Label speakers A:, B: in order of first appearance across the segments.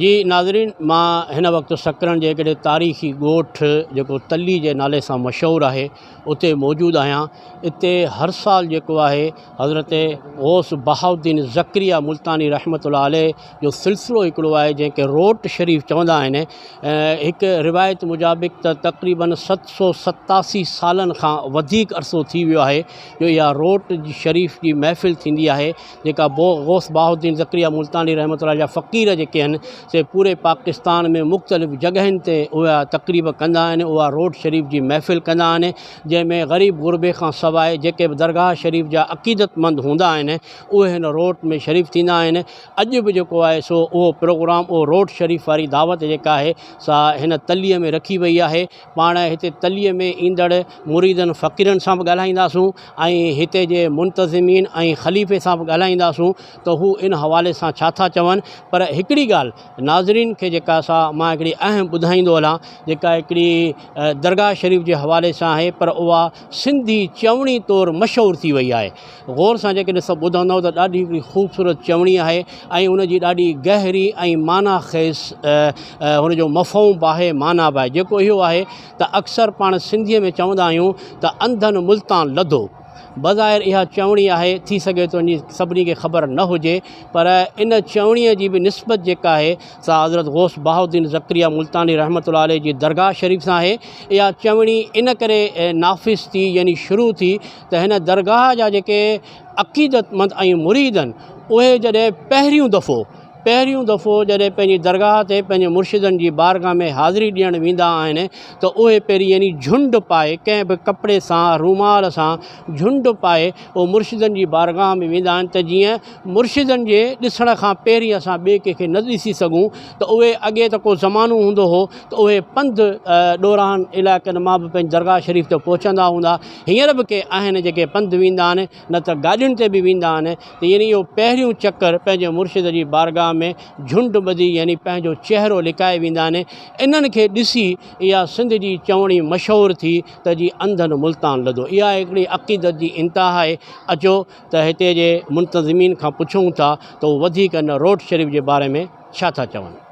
A: جي ناظرين مان هن وقت سڪرن جي هڪڙي تاريخي ڳوٺ جيڪو تلي جي نالي سان مشهور آهي اتي موجود آهيان اتي هر سال جيڪو آهي حضرت غوث بهاء الدين زڪريا ملتاني رحمة الله عليه جو سلسلو هڪڙو آهي جنهن کي روٽ شريف چوندا آهن هڪ روايت مجابق ته تقريبن ست سو ستاسي سالن کان وڌيڪ عرصو ٿي ويو آهي جو اها روٽ شريف جي محفل ٿيندي آهي جيڪا بو غوث بهاء الدين ذڪريا ملتاني رحمة الله جا فقير جيڪي آهن سي پوري پاڪستان ۾ مختلف جڳهين تي اها تقريب ڪندا آهن اها روڊ شريف جي محفل ڪندا آهن جنهن ۾ غريب غربي کان سواء جيڪي به درگاهه شريف جا عقيدت مند هوندا آهن اهي هن روڊ ۾ شريف ٿيندا آهن اڄ به جيڪو آهي سو اهو پروگرام اهو روڊ شريف واري دعوت جيڪا آهي سا هن تليء ۾ رکي وئي آهي پاڻ هتي تليء ۾ ايندڙ مريدن فقيرن سان به ڳالهائينداسون ۽ هتي جي منتظمين ۽ خليفي سان به ڳالهائينداسون ته هو ان حوالي سان ڇا ٿا چون پر هڪڙي ڳالهه ناظرين کي جيڪا سا مان هڪڙي اهم ٻڌائيندو هلان جيڪا هڪڙي درگاهه شريف جي حوالي سان آهي پر اها سنڌي چوڻي طور مشهور ٿي وئي آهي غور سان جيڪڏهن سڀ ٻڌندؤ ته ڏاڍي هڪڙي خوبصورت چوڻي آهي ۽ ان جي ڏاڍي گهري ۽ معنيٰ خيز هن جو مفهوم به آهي معنيٰ به آهي جيڪو اهو آهي ته اڪثر پاڻ سنڌيء ۾ چوندا آهيون ته انڌن ملتان لڌو بظاهر اها چوڻي آهي ٿي سگهي ٿو جي سڀني کي خبر نه هجي پر ان چوڻيء جي به نسبت جيڪا آهي سا حضرت غوث بهاء الدين زڪريا ملتاني رحمة الله عليه جي درگاهه شريف سان آهي اها چوڻي ان ڪري نافذ ٿي يعني شروع ٿي ته هن درگاهه جا جيڪي عقيدتمند ۽ مريد آهن اهي جڏهن پهريون دفعو پهريون دفعو جڏهن پنهنجي درگاهه تي پنهنجي مرشدن جي بارگاهه ۾ حاضري ڏيڻ ويندا آهن ته اهي پهرين يعني جهنڊ پائي ڪنهن به ڪپڙي سان رومال سان جهنڊ پائي اهو مرشدن جي بارگاهه ۾ ويندا آهن ته جيئن مرشدن جي ڏسڻ کان پهرين اسان ٻئي ڪنهن کي نه ڏسي سگهون ته اهي اڳي ته ڪو زمانو هوندو هو ته اهي پنڌ ڏورانهن علائقن مان به پنهنجي درگاهه شريف تي پهچندا هوندا هينئر به ڪي آهن جيڪي پنڌ ويندا آهن نه ته گاڏين تي به ويندا آهن ته يعني اهو پهريون چڪر پنهنجي مرشد جي بارگاهه ۾ جهنڊ ٻڌي يعني پنهنجو چهرو لڪائي ويندا آهن انهن کي ڏسي اها سنڌ جي چوڻي مشهور ٿي ته جي انڌن ملتان لڌو اها هڪڙي عقيدت جي انتها آهي اچو ته هتي جي منتظمين کان پڇون ٿا ته هو وڌيڪ ان روڊ شريف جي باري ۾ ڇا ٿا چون.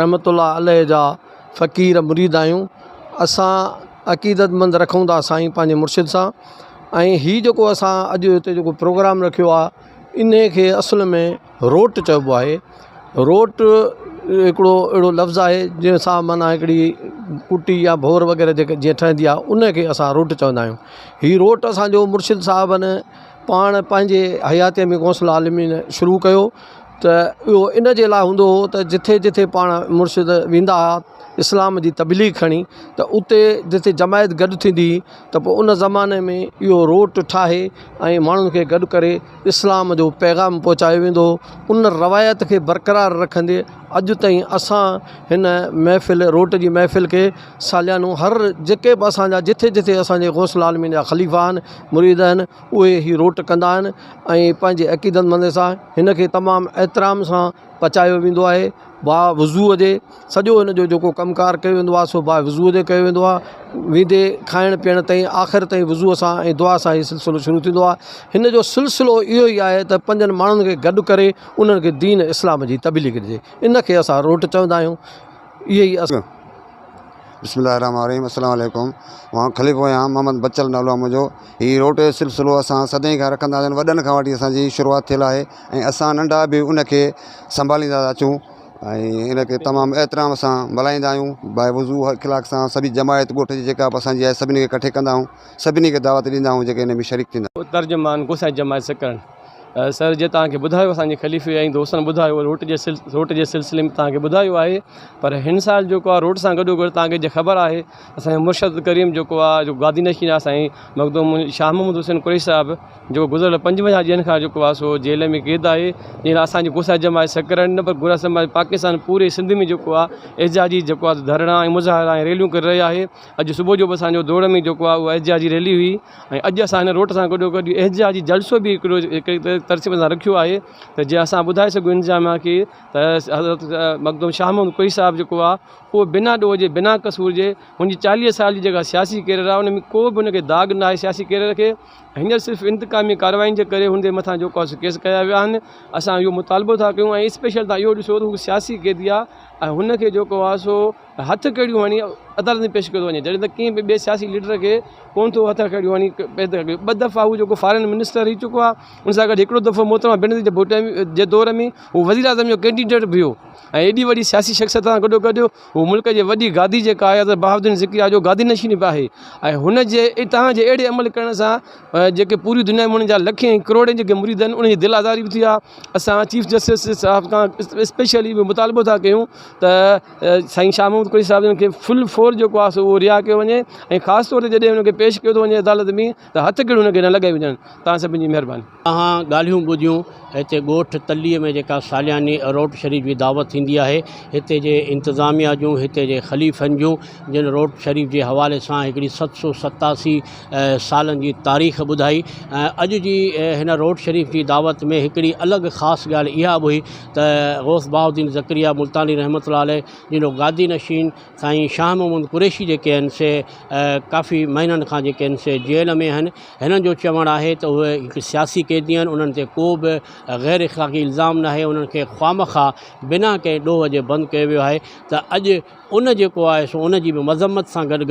B: رحمة الله عليه جا فقير مريد آهيون اسان عقيدت مند رکون ٿا سائين پنهنجي مرشد سان ۽ هي جيڪو اسان اڄ هتي جيڪو پروگرام رکيو آهي انهي کي اصل ۾ روٽ چئبو آهي روٽ هڪڙو اهڙو لفظ آهي جنهن سان معنيٰ هڪڙي ڪٽي يا ڀور وغيره جيڪي جيئن ٺهندي آهي انهي کي اسان روٽ چوندا آهيون هي روٽ اسانجو مرشد صاحبن پاڻ پنهنجي حياتيء ۾ غوث العالمين شروع ڪيو ته اهو ان جي لاء هوندو هو ته جٿي جٿي پاڻ مرشد ويندا هئا اسلام جي تبليغ کڻي ته اتي جٿي جماعت گڏ ٿيندي هئي ته پوء ان زماني ۾ اهو روٽ ٺاهي ۽ ماڻهن کي گڏ ڪري اسلام جو پيغام پهچايو ويندو هو ان روايت کي برقرار رکندي اڄ تائين اسان هن محفل روٽ جي محفل کي ساليانو هر جيڪي به اسان جا جٿي جٿي اسان جي غوث العالمين جا خليفا آهن مريد آهن اهي هي روٽ ڪندا آهن ۽ پنهنجي عقيدن مندن سان هن کي تمام احترام سان پچايو ويندو آهي با وضوء جي سڄو هن جو جيڪو ڪم ڪار ڪيو ويندو آهي سو با وضوء جي ڪيو ويندو آهي ويندي کائڻ پيئڻ تائين آخر تائين وضوء سان ۽ دعا سان هي سلسلو شروع ٿيندو آهي هن جو سلسلو اهو ئي آهي ته پنهنجن ماڻهن کي گڏ ڪري انهن کي دين اسلام جي تبليغ ڏجي ان کي اسان روٽ چوندا آهيون اهي ئي اسان. بسم الله
C: الرحمٰن الرحيم السلام عليڪم مان خليفو آهيان محمد بچل نالو آهي منهنجو هي روٽ جو سلسلو اسان سدائين کان رکندا آهيون وڏن کان وٺي اسان جي شروعات ٿيل آهي ۽ اسان ننڍا به ان کي سنڀاليندا ٿا اچون ۽ ان کي تمام احترام سان ملهائيندا آهيون بائي وضو اخلاق سان سڀي جماعت ڳوٺ جي جيڪا به اسان جي آهي سڀني کي ڪٺي ڪندا آهيون سڀني کي دعوت ڏيندا آهيون جيڪي ان ۾
D: شريڪ
C: ٿيندا. ترجمان گو سائين جماعت سڪرنڊ.
D: سر جي توهان کي ٻڌايو اسان جي خليفي ۽ دوستن ٻڌايو روٽ جي روٽ جي سلسلي ۾ توهان کي ٻڌايو آهي پر هن سال جيڪو آهي روٽ سان گڏو گڏ توهان کي جي خبر آهي اسان جو مرشد ڪريم جيڪو آهي جو گادي نشين آهي سائين مخدوم شاهه محمد حسين قريشي صاحب جو گذريل پنجونجاهه ڏينهن کان جيڪو آهي سو جيل ۾ قيد آهي جنهن لاء اسان جي گوسا جماعت سکر نه پر گوسا جماعت پاڪستان پوري سنڌ ۾ جيڪو آهي احتجاجي جيڪو آهي ڌرڻا ۽ مظاهرا ۽ ريليون ڪري رهي آهي اڄ صبح جو به اسان جو دوڙ ۾ جيڪو آهي احتجاجي ريلي هئي ۽ اڄ اسان هن روٽ سان گڏو گڏ احتجاجي جلسو به هڪڙو هڪڙي طرح ترتيب سان رکيو آهي ته جيئن اسان ٻڌائي سگهون انتظاميا کي ته حضرت مخدوم شاهه محمد ڪوئي صاحب جيڪو آهي اهو بنا ڏوهه جي بنا قصور جي هن جي چاليهه سال جي جيڪا سياسي ڪيريئر آهي ان ۾ ڪو به ان کي داغ نه آهي سياسي ڪيريئر کي هينئر صرف انتقامي ڪاررواين جي ڪري هن جي مٿان جيڪو آهي سو ڪيس ڪيا ويا آهن اسان اهو مطالبو ٿا ڪيون ۽ اسپيشل تان اهو ڏسو ته هو سياسي قيدي آهي ۽ هن کي جيڪو آهي سو هٿ ڪڙيون هڻي عدالت ۾ پيش ڪيو ٿو وڃي جڏهن ته ڪنهن به ٻئي سياسي ليڊر کي ڪونه ٿو هٿ ڪڙيون هڻي پيش ڪيو وڃي ٻه دفعا هو جيڪو فارن منسٽر رهي چڪو آهي ان سان گڏ هڪڙو دفعو محترمه بينظير ڀٽو جي دور ۾ هو وزير اعظم جو ڪينڊيڊيٽ به هو ۽ ايڏي وڏي سياسي شخصيت سان گڏو گڏ هو ملڪ جي وڏي گادي جيڪا آهي حضرت بهاء الدين ذڪريا جو گادي نشين به آهي ۽ هن جي اتهان جي اهڙي عمل ڪرڻ سان جيڪي پوري دنيا ۾ هن جا لکين ۽ ڪروڙين جيڪي مريد آهن انهن جي دل آزاري به ٿي آهي اسان چيف جسٽس صاحب کان اسپيشلي به مطالبو ٿا ڪيون ته سائين شاهه محمود قريشي صاحب جن کي فل فور جيڪو آهي سو رها ڪيو وڃي ۽ خاص طور جڏهن ان کي پيش ڪيو وڃي عدالت ۾ ته هٿ ڪڙيون ان کي نه لڳائي وڃن تان سڀن جي مهرباني. اوهان ڳالهيون
A: ٻڌيون هتي ڳوٺ تلي ۾ جيڪا سالياني روٽ شريف جي دعوت ٿيندي آهي هتي جي انتظاميا جون هتي جي خليفن جون جن روٽ شريف جي حوالي سان هڪڙي ست سو ستاسي سالن جي تاريخ ٻڌائي ۽ اڄ جي هن روٽ شريف جي دعوت ۾ هڪڙي الڳ خاص ڳالهه اها به هئي ته غوث بهاء الدين ذڪريا ملتاني رحمة الله عليه جنھن گادي نشين سائين شاهه محمود قريشي جيڪي آهن سي ڪافي مهينن کان جيڪي آهن سي جيل ۾ آهن هنن جو چوڻ آهي ته اهي هڪ سياسي قيدي آهن انهن تي ڪو به غير اخلاقي الزام ناهي انهن کي خوامخواه بنا ڪنهن ڏوهه جي بند ڪيو ويو آهي ته اڄ ان جيڪو آهي سو ان جي به مذمت سان گڏ گڏ